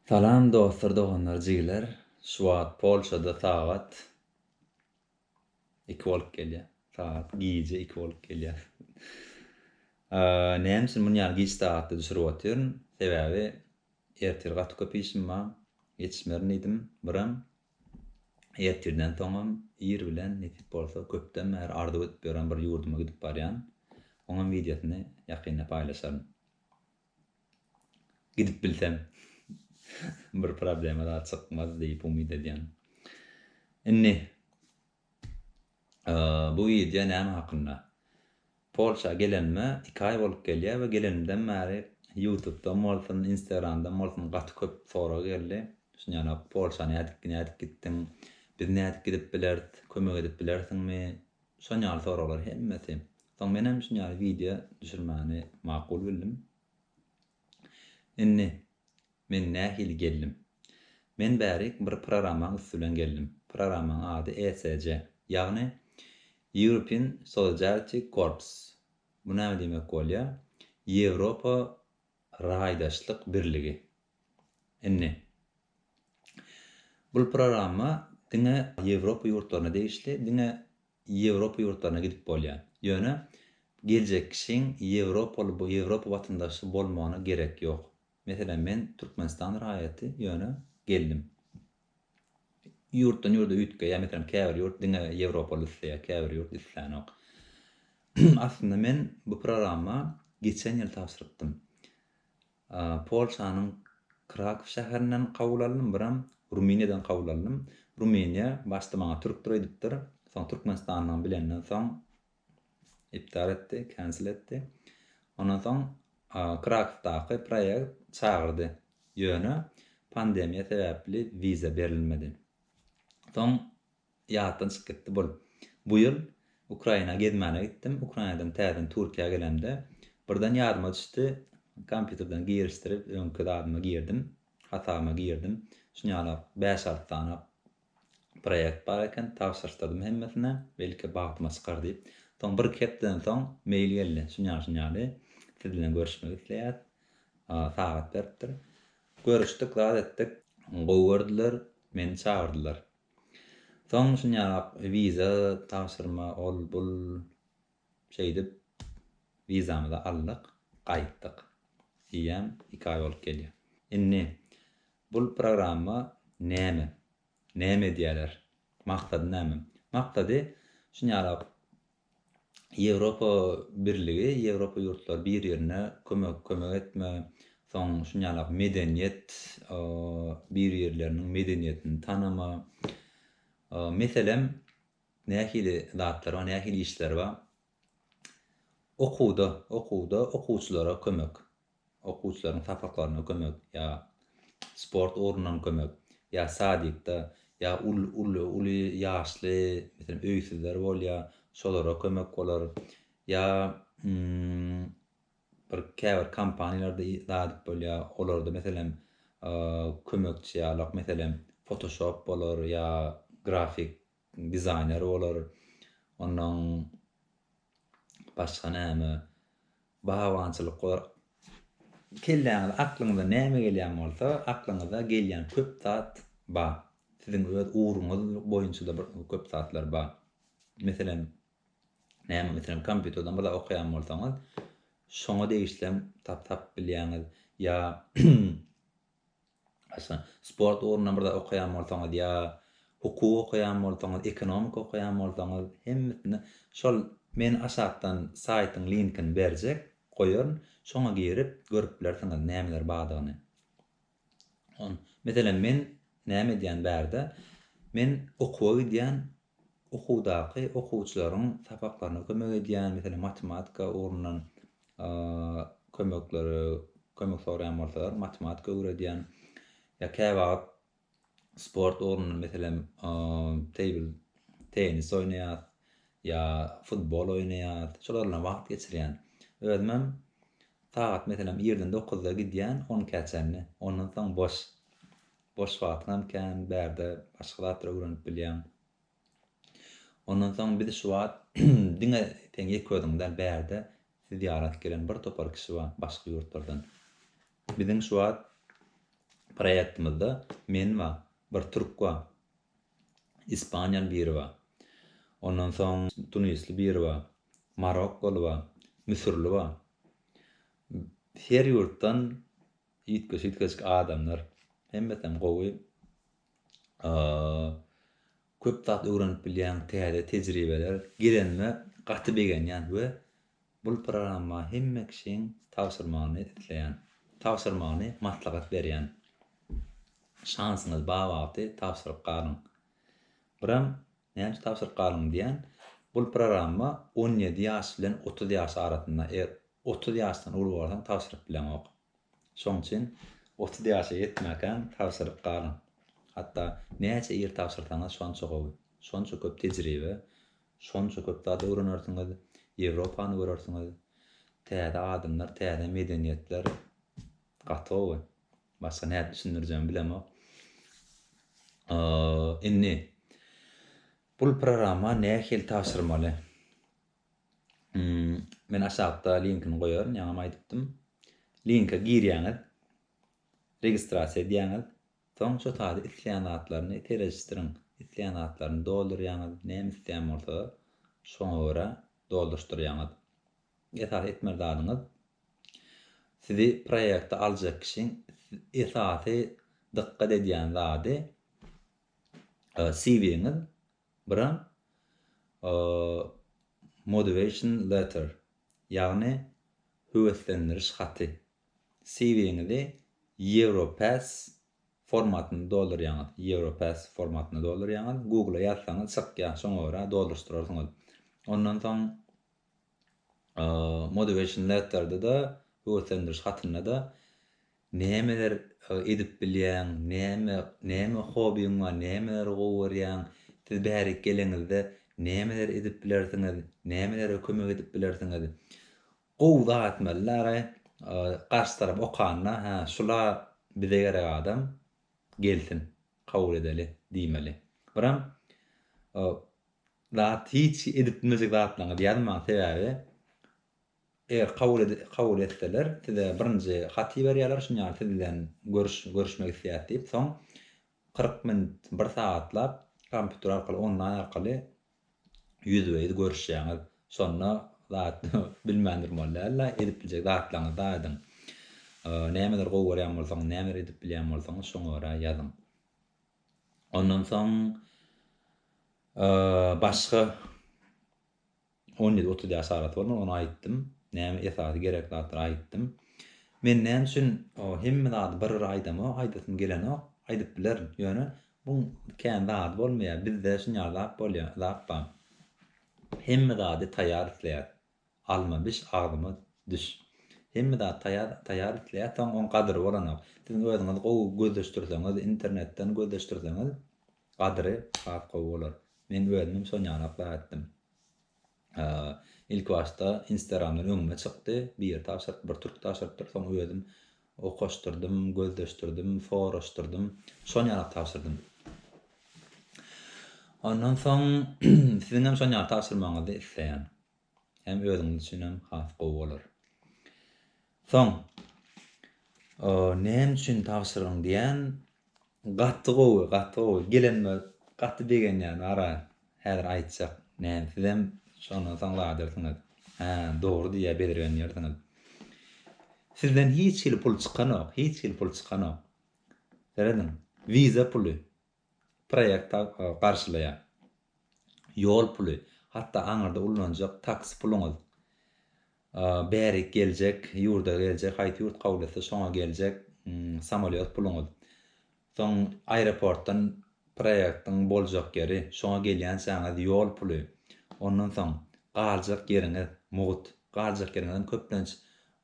Salam dostlar doganlar jigiler şu wagt polşada sagat iki bolup gelýär sagat gije iki bolup gelýär näme üçin muny ýaly giç sagatda düşürip otyryn sebäbi ertir gaty köp işim bar ýetişmerin diýdim biram ertirden soňam ir bilen nesip bolsa köpden bäri arzuw edip ýören bir ýurduma gidip barýan oňam wideosyny ýakynda paýlaşaryn. Gidip bilsem, bir problema zat çykmaz diýip umyt edýän. Indi bu wideo näme hakynda? Polşa gelenime iki aý bolup gelýär we gelenimden bäri ýutubdan bolsun, instagramdan bolsun gaty köp sorag geldi. Düşünýänok, Polşa nädip nädip gitdiň? Biz nädip gidip bileris? Kömek edip bilersiňmi? Şon ýaly soraglar hemmesi. Soň menem şun ýaly wideo düşürmäni makul bildim. Indi men nähili geldim? Men bärik bir proramaň üsti bilen geldim. Proramaň ady ESC, ýagny European Solidarity Corps. Bu näme diýmek bolýar? Ýewropa raýdaşlyk birligi. Indi, bul programma diňe Ýewropa ýurtlaryna degişli, diňe Ýewropa ýurtlaryna gidip bolýar. Ýöne geljek kişiň ýewropaly, Ýewropa watandaşy bolmagyna gerek ýok. Meselem, men Türkmenistan raýaty, ýöne geldim. Ýurtdan ýurda üýtgeýär, meselem, käbir ýurt diňe ýewropaly isleýär, käbir ýurt islänok. Aslynda men bu programma geçen ýyl tabşyrypdym. Polşanyň Krakow şäherinden kabul aldym, biram Rumyniýadan kabul aldym. Rumyniýa başda maňa türkdir öýdüpdir, soň türkmenistanlygymy bilenden soň iptal etdi, cancel etdi. Ondan soň Krakowdaky proýekt çagyrdy, ýöne pandemiýa sebäpli wiza berilmedi. Soň Ýatdan çykyp gitdi bul. Bu ýyl Ukraina gezmäne gitdim. Ukrainadan täzeden Türkiýä gelemde, birden ýadyma düşdi, kompýuterden girişdirip, öňki zadyma girdim, hasabyma girdim. Şunýalak bäş-alty sany proýekt bar eken, tabşyryşdyrdym hemmesine, belki bagtyma çykar diýip. Soň bir-iki hepdeden soň mail geldi, şunýaly-şunýaly, siz bilen görüşmek isleýäs. Sagat beripdir. Görüşdik, zat etdik. Gowy gördüler, meni çagyrdylar. Soň şunyaq wiza tabşyrma ol bul şeýdip wizamyzy aldyk gaýtdyk diýýän iki aý bolup gelýär. Indi bul programma näme? Näme edýäler? Maksady näme? Maksady şunyalak Ýewropa Birligi, Ýewropa ýurtlary bir-birine kömek, kömek etme, soň şuny ýalak medeniýet, bir-birleriniň medeniýetini tanama, meselem, nähili zatlar bar, nähili işler bar? Okuwda, okuwda okuwçylara kömek. okuwçylaryň sapaklaryna kömek ýa sport ugrundan kömek ýa sadikda ýa uly ýaşly meselem öýsüzler bolýar şolara kömek bolar ýa bir käbir kompaniýalarda zat bolýar olarda meselem kömekçi ýalyk meselem fotoshop bolar ýa grafik Dizaýner bolar. Onnoň başga näme? Bagbançylyk bolar. Kelläňize, aklyňyza näme gelýän bolsa, aklyňyza gelýän köp zat bar. Siziň öz ugruňyz boýunça-da bir köp zatlar bar. Meselem, näme, meselem, kompýuterden bir zat okaýan bolsaňyz, şoňa degişlem tap-tap bilýäňiz. Ýa Başga sport ugrundan bir zat okaýan bolsaňyz ýa hukuk okaýan bolsaňyz, ekonomika okaýan bolsaňyz, hemmesinde şol Men aşakdan saýtyň linkini berjek, goýaryn, şoňa girip görüp bilersiňiz nämeler bardygyny. Meselem, men näme edýän bärde? Men okuwa gidýän, Okuwdaky okuwçylaryň sapaklaryna kömek edýän, meselem, matematika ugrundan kömekleri, kömek soraýan bolsalar, matematika öwredýän. Ýa käwagt sport ugrundan, meselem, teýbil tennis oýnaýas, ýa futbol oýnaýas, şolar bilen wagt geçirýän. Özümem sagat, meselem, irden dokuzda gidýän, onkä çenli, ondan soň boş. Boş wagtyňam kän, bärde başga zatlar öwrenip bilýäň. Ondan soň biz şu wagt diňe sen ýeke özüň däl, bärde sizi zyýarat gelen bir topar kişi bar, başga ýurtlardan. Biziň şu wagt proýektimizde men bar, bir türk bar, ispaniýaly biri bar. Ondan soň tunisli biri bar, marokkoly bar, müsürli bar. Her ýurtdan Üýtgeşik üýtgeşik adamlar hemmesem gowy köp zat öwrenip bilýäň täze tejribeler gelenime gaty begenýän we bul programma hemme kişiň tabşyrmagyny isleýän tabşyrmagyny maslahat berýän şansyňyz ba wagty tabşyryp galyň biram Nädip tabşyryp galyň diýän. Bul proramma on ýedi ýaş bilen otuz ýaş arasynda. Eger otuz ýaşdan uly bolsaň tabşyryp bileňok. Şoň üçin otuz ýaşa ýetmäkäň tabşyryp galyň. Hatda näçe ir tabşyrsaňyz şonça gowy. Şonça köp tejribe, şonça köp zat öwrenersiňiz, Ýewropany görersiňiz, täze adamlar, täze medeniýetler. Gatowy. Başga nädip düşündirjegimi bilemok. Indi bul programma nähili tabşyrmaly? Men aşakda linkini goýaryn, ýaňam aýdypdym. Linke girýäňiz. Registrasiýa edýäňiz. Soň şo taýda isleýän zatlaryny serejistiriň. Isleýän zatlaryny doldurýaňyz. Näme isleýän bolsa şoňa görä dolduryşdyrýaňyz. Esasy etmeli zadyňyz, sizi proýekte aljak kişiň esasy dykgat edýän zady CV-ňiz, birem motivation letter, ýagny höweslendiriş haty. CV-ňizi Europass formatynda doldurýaňyz, Europass formatynda doldurýaňyz, Google-a ýazsaňyz çykýar, şoňa görä dolduryşdyrarsyňyz. Ondan soň Motivation letter-de-de, höweslendiriş hatynda-da nämeler edip bilýäň, näme, näme hobiň bar, nämeleri gowy görýäň, siz bärik geleňizde nämeleri edip bilersiňiz, nämelere kömek edip bilersiňiz. Gowy zat etmeli-dä-aý, garşy tarap okanda, hä, şula bize gerek adam, gelsin, kabul edeli diýmeli. Biram zat hiç edip bilmejek zatlaryňyzy ýazmaň sebäbi eger kabul kabul etseler size birinji haty berýärler şuny ýaly siz bilen görüş görüşmek isleýäs diýip soň kyrk minut bir sagatlap kompýuter arkaly onlaýn arkaly ýüzbe ýüz görüşýäňiz şonda zat bilmän durmaly dälda edip biljek zatlaryňyzy aýdyň nämeleri gowy görýän bolsaňyz nämeleri edip bilýän bolsaňyz şoňa görä ýazyň. Ondan soň başga on ýedi otuz ýaş arasy bolmaly, ony aýtdym. Näme esasy gerek zatlary aýtdym. Men näme üçin hemme zady bir-bir aýdamok, aýdasym gelenok, aýdyp bilerin. Ýöne muň kän zady bolmaýar. Bizde şunýaly zat bolýar, zat bar. Hemme zady taýýar isleýäris. Alma biş agzyma düş. Hemme zat taýar taýar isleýär soň oň gadyry bolanok. Siziň özüňiz gowy gözleşdirseňiz internetden gözleşdirseňiz gadyry has gowy bolar. Men özümem şonýalak zat etdim. Ilkibaşda instagramdan öňüme çykdy biri tabşyryp bir türk tabşyrypdyr soň özüm okaşdyrdym gözleşdirdim soraşdyrdym şonýalak tabşyrdym. Ondan soň siziňem şonýaly tabşyrmagyňyzy isleýän. hem özüňiz üçin hem has gowy bolar. Soň näme üçin tabşyrgyň diýen gaty gowy gaty gowy gelenime gaty begenýän ara häzir aýtjak näme sizem şondan soň ladyrsyňyz hä dogry diýýä bezirgenýärsiňiz sizden hiç hili pul çykanok hiç hili pul çykanok serediň wiza puly proýekt garşylaýar. Ýol puly, hatda aňyrda ullanjak taksi puluňyz, bärik geljek, ýurda geljek, haýsy ýurt kabul etse şoňa geljek samolýot puluňyz, soň aeroportdan proýektiň boljak ýeri, şoňa gelýänçäňiz ýol puly, ondan soň galjak ýeriňiz, mugt, galjak ýeriňizem köplenç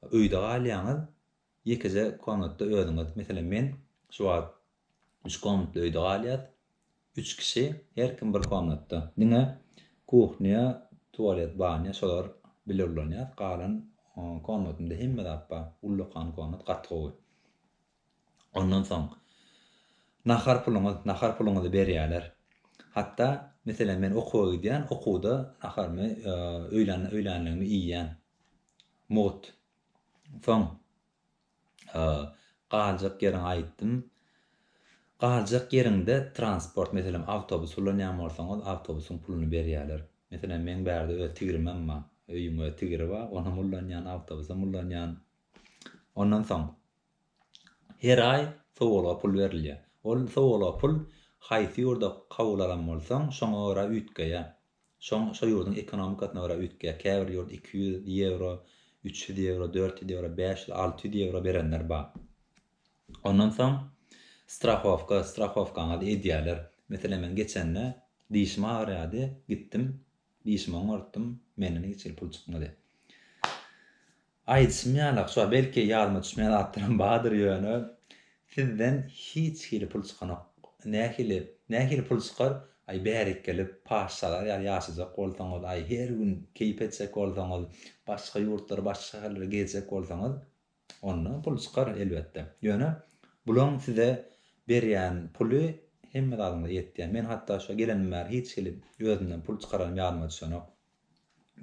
öýde galýaňyz, ýekeje komnatda özüňiz, meselem, men şu wagt Üç komnatly öýde galýas. Üç kişi, her kim bir komnatda. Diňe kuhnýa, tualet, banýa şolar bile ulanýas. Galan komnatymda hemme zat bar. Ullakan komnat, gaty gowy. Ondan soň nahar puluňyz, nahar puluňyzy berýärler. Hatda, meselem, men okuwa gidýän, okuwda naharymy, öýlänligimi iýýän. Mugt. Soň Galjak ýeriňi aýtdym. Galjak ýeriňde transport, meselem, awtobus ulanýan bolsaňyz, awtobusyň puluny berýärler. Meselem, meň bärde öz tigrimem bar. Öýüň öz tigiri bar, onam ulanýan, awtobusam ulanýan. Ondan soň, her aý sowalga pul berilýär. Ol sowalga pul haýsy ýurda kabul alan bolsaň, şoňa görä üýtgeýär. Şoň şo ýurduň ekonomikasyna görä üýtgeýär. Käbir ýurt iki ýüz ýewro, üç ýüz ýewro, dört ýüz ýewro, bäş ýüz, alty ýüz ýewro berenler bar. Ondan soň strahowka, strahowkaňyzy edýärler. Meselem, men geçende dişim agyrýardy, gitdim, dişimi oňartdym, menden hiç hili pul çykmady. Aýdyşym ýaly akja belki ýadyma düşmeýän zatlaram bardyr ýöne sizden hiç hili pul çykanok nähili nähili pul çykar aý bärik gelip paşşalar ýaly ýaşajak bolsaňyz aý her gün keýp etjek bolsaňyz başga ýurtlara başga şäherlere gezjek bolsaňyz onda pul çykar elbetde ýöne bulaň size berýän puly hemme zadyňyza ýetýär men hatda şu gelenimden bäri hiç hili özümden pul çykaranm ýadyma düşenok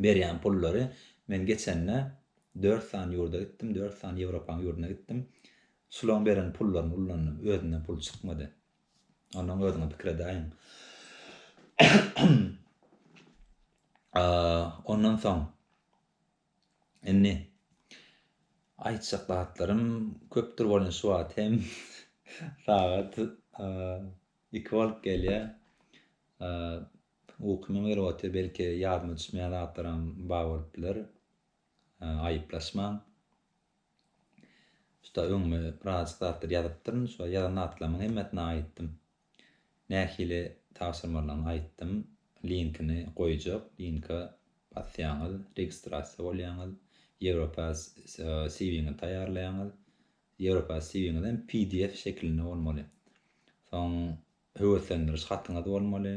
berýän pullary men geçende dört sany ýurda gitdim dört sany ýewropaň ýurduna gitdim şulaň beren pullaryny ullandym özümden pul çykmady onnoň özüňe pikir edäýiň ondan soň indi aýtjak zatlarym köpdür bolýan şu wagt hem sagat iki bolup gelýär Bu kimiň wyrwoty belki ýadyma düşmeýän zatlaram bar bolup biler. Aýyplaşmaň. Şuda öňüme birazajyk zatlar ýazypdyryn. Şu ýazan zatlarymyň hemmesini aýytdym. Nähili tabşyrmalyny aýytdym. Linkini goýjak. Linka basýaňyz, registrasiýa bolýaňyz. Europass CV-ňizi taýýarlaýaňyz. Europass CV-ňizem pdf şekilinde bolmaly. Soň Höweslendiriş hatyňyz bolmaly.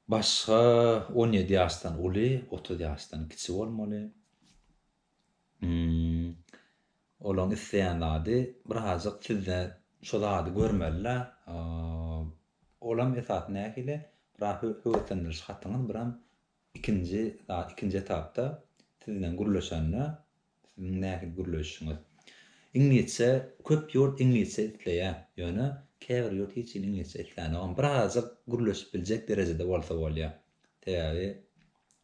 Başga on ýedi ýaşdan uly, otuz ýaşdan kiçi bolmaly. Hmmm. Olaň isleýän zady birazajyk sizde şo zady görmelidä. Olam esasy nähili? Biraz höweslendiriş hatyňyz, biram Ikinji zat, ikinji etapda siz bilen gürleşende, siziň nähili gürleşişiňiz. Iňlisçe, köp ýurt iňlisçe isleýär, ýöne käbir ýurt hiç hili iňlisçe islänokam. Birazajyk gürleşip biljek derejede bolsa bolýar. Sebäbi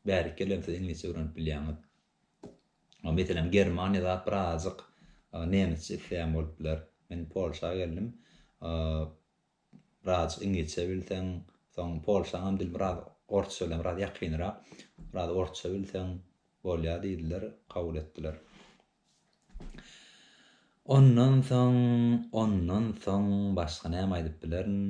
bärik ýerlerem siz iňlisçe öwrenip bilýäňiz. Meselem, Germaniýa zat birazajyk nemesçe isleýän bolup biler. Men Polşa geldim, Biraz iňlisçe bilseň, soň polşaňam dil biraz orsça bilen biraz ýakynrak, biraz orsça bilseň bolýar diýdiler, kabul etdiler. Ondan soň, ondan soň başga näme aýdyp bilerin?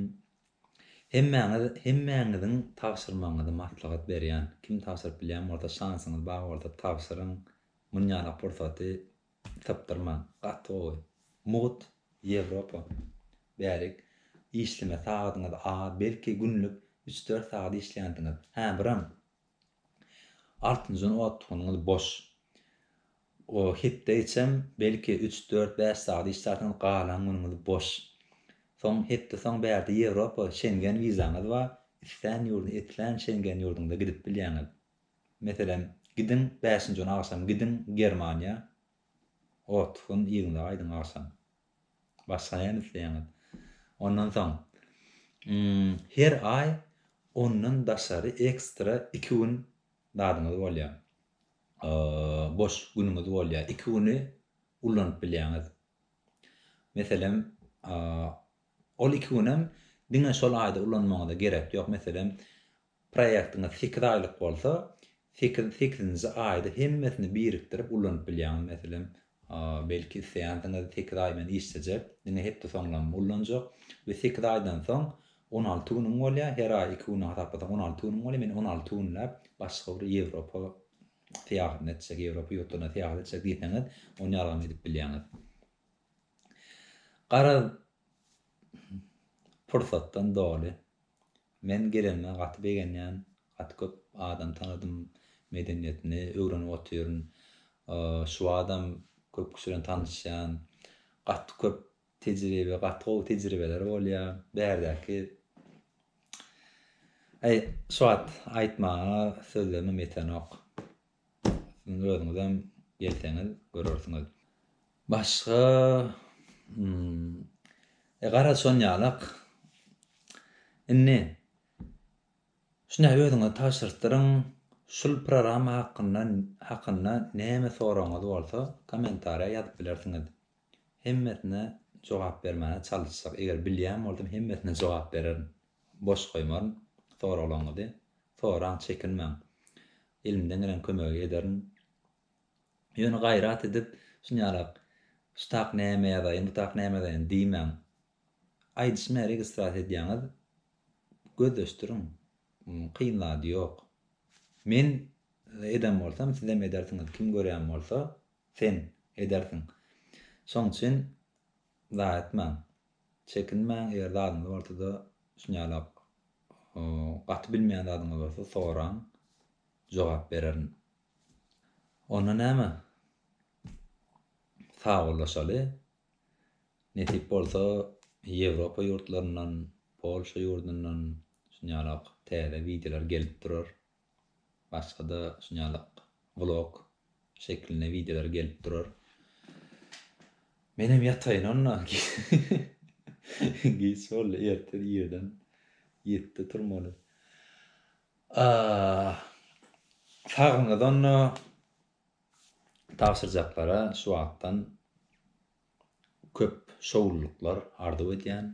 Hemmäňiz, hemmäňiziň tabşyrmagyňyzy maslahat berýän. Kim tabşyryp bilýän bolsa, şansyňyz bar bolsa tabşyryň. Munýalak pursaty Sypdyrman, gaty gowy. Mugt, Ýewropa. Bärik. Işleme sagadyňyz az, belki günlük üç-dört sagat işleýänsiňiz. Hä, biram. Altynjan otgynyňyz boş. O, hepde içem, belki üç-dört-bäş sagat işlärsiňiz, galan günüňiz boş. Soň, hepde soň bärde Ýewropa, Şengen wizaňyz bar, islän ýurda, islän Şengen ýurduňyza gidip bilýäňiz. Meselem, gidiň, bäşinji gün agşam gidiň Germaniýa, otuz gün yzyňyza gaýdyň agşam. Başga näme isleýäňiz? Ondan soň, ym, her aý ondan daşary ekstra iki gün zadyňyz bolýar, o, boş günüňiz bolýar. Iki güni ullanyp bilýäňiz. Meselem, o, ol iki günem diňe şol aýda ulanmagyňyza gerek ýok. Meselem, Proýektiňiz sekiz aýlyk bolsa, sekiz sekizinji aýda hemmesini birikdirip ullanyp bilýäňiz. Meselem, belki isleýänsiňiz sekiz aý men işlejek, diňe hepde soňlaryny ullanjak we sekiz aýdan soň on alty günüň bolýar, her aý iki günden hasaplasaň on alty günüň bolýar, men on alty günläp başga bir Ýewropa syýahatyny etjek, Ýewropa ýurtlaryna syýahat etjek diýseňiz, ony ýalgam edip bilýäňiz. Garaz, pursatdan doly Men gelenime gaty begenýän, gaty köp adam tanadym, medeniýetini öwrenip otyryn. Şuwadam köp kişi bilen tanyşýan. Gaty köp tejribe, gaty gowy tejribeler bolýa. Bärdäki Aý, şuwagt aýtmaga sözlerimem ýetenok. Siziň özüňizem gelseňiz görersiňiz. Başga Hum. E garaz şonýalak. Indi Şunday özüňizi tabşyrtdyryň. Şul prorama hakynda hakynda näme soragyňyz bolsa komentariýa ýazyp bilersiňiz. Hemmesine jogap bermäne çalyşjak. Eger bilýän bolsam hemmesine jogap bererin. Boş goýmaryn soraglaryňyzy. Soraň çekinmäň. Elimden gelen kömegi ederin. Ýöne gaýrat edip, şunýalak, şu tak näme ýazaýyn, bu tak näme ýazaýyn diýmäň. Aýdyşyma registrasiýa edýäňiz, gözleşdiriň. Kyn zady ýok. Men eden bolsam, sizem edersiňiz, kim görýän bolsa, sen edersiň. Şoň üçin zaýa etmäň. Çekinmäň, eger zadyňyz bolsa-da, şunýalak. Gaty bilmeýän zadyňyz bolsa soraň, jogap bererin. Onda näme? Sagbollaşaly. Nesip bolsa, Ýewropa ýurtlaryndan, Polşa ýurdundan şunýalak täze wideolar gelip durar. Başga-da şunýalak vlog şeklinde wideolar gelip durar. Menem ýataýyn onda. Giç boldy, ertir irden ýetde turmaly. Saglygyňyz onda tabşyrjaklara şu wagtdan köp şowlulyklar arzuw edýän.